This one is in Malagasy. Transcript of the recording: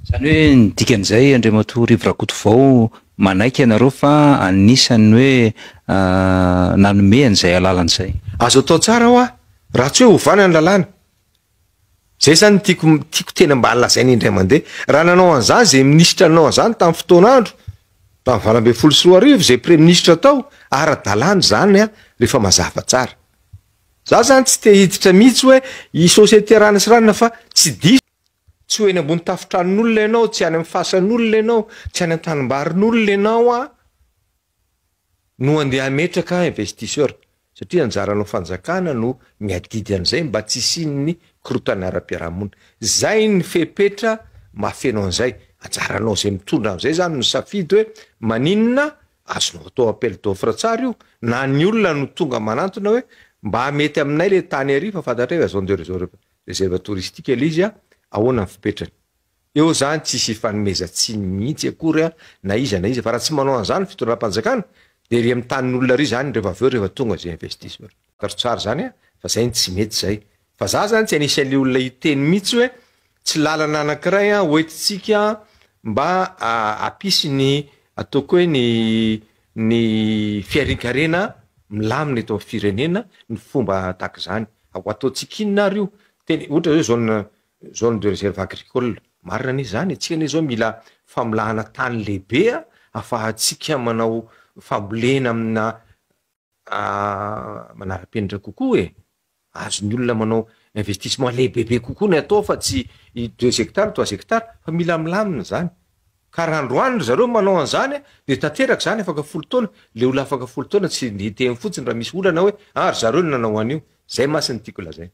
Izany hoe ny dikan'izay Andriamatoa Rivo Rakotovao manaiky ianareo fa anisan'ny hoe nanome an'izay alalana izay. Azo atao tsara hoa raha tsy hoe ovana ny lalàna. Izay izany no tiako tiako tena mba lazaina indray mandeha. Raha nanao an'izany izay minisitra nanao an'izany tamin'ny fotoana andro tamin'ny valo ambin'ny folo sy roa arivo izay praiministra tao, ara-dalàna izany rehefa mazava tsara. Izaho izany tsy te hiditra mihitsy hoe i société Rano sy Ranona fa tsy diso. Tsy ho eny ambony tafotranon'olona ianao, tsy any amin'ny fasan'olona ianao, tsy any an-tanimbarin'olona ianao aho no handeha hametraka investisseur satria anjaranao fanjakana no miadidy an'izay mba tsy hisian'ny korontana ara-piarahamonina. Izay ny fepetra mahafeno an'izay. Anjaranao izay mitondra an'izay izany no misafidy hoe maninona, azonao atao appel d'offre tsara io na ny olona no tonga manantona hoe mba mety aminay ilay tany ary fa fantatray hoe zone de réseau Réserve touristique ilay izy an! Ahoana ny fipetrany? Eo izany tsisy ifanomezan-tsiny mihitsy akory an! Na iza na iza fa raha tsy manao an'izany ny fitondram-panjakana dia ery amin'ny tanin'olona ery izany rehefa avy eo rehefa tonga izay investisseur. Taro tsara izany an! Fa izay no tsy mety izay. Fa za izany tsy anisan'ny olona hiteny mihitsy hoe tsy lalana anankiray an! Hoentintsika mba hampisy ny ataoko hoe ny ny fiharinkarena milamina eto amin'ny firenena ny fomba tahaka izany, ho ataontsika inona ary io? Teny ohatra hoe zone zone de réserve agricole, marina anie izany e, tsika anie izao mila famolahana tany lehibe ahafahantsika manao fambolena amina manara-penitra kokoa e. Azon'ny olona manao investissement lehibebe kokoa ny atao fa tsy deux hectares, trois hectares fa mila milamina izany. Ka raha androany ry zareo manao an'izany dia tanteraka izany afaka folo taona, ilay olona afaka folo taona tsy hiteny fotsiny raha misy olana hoe ah ry zareo no nanao an'io. Izay mantsy no tiako lazaina.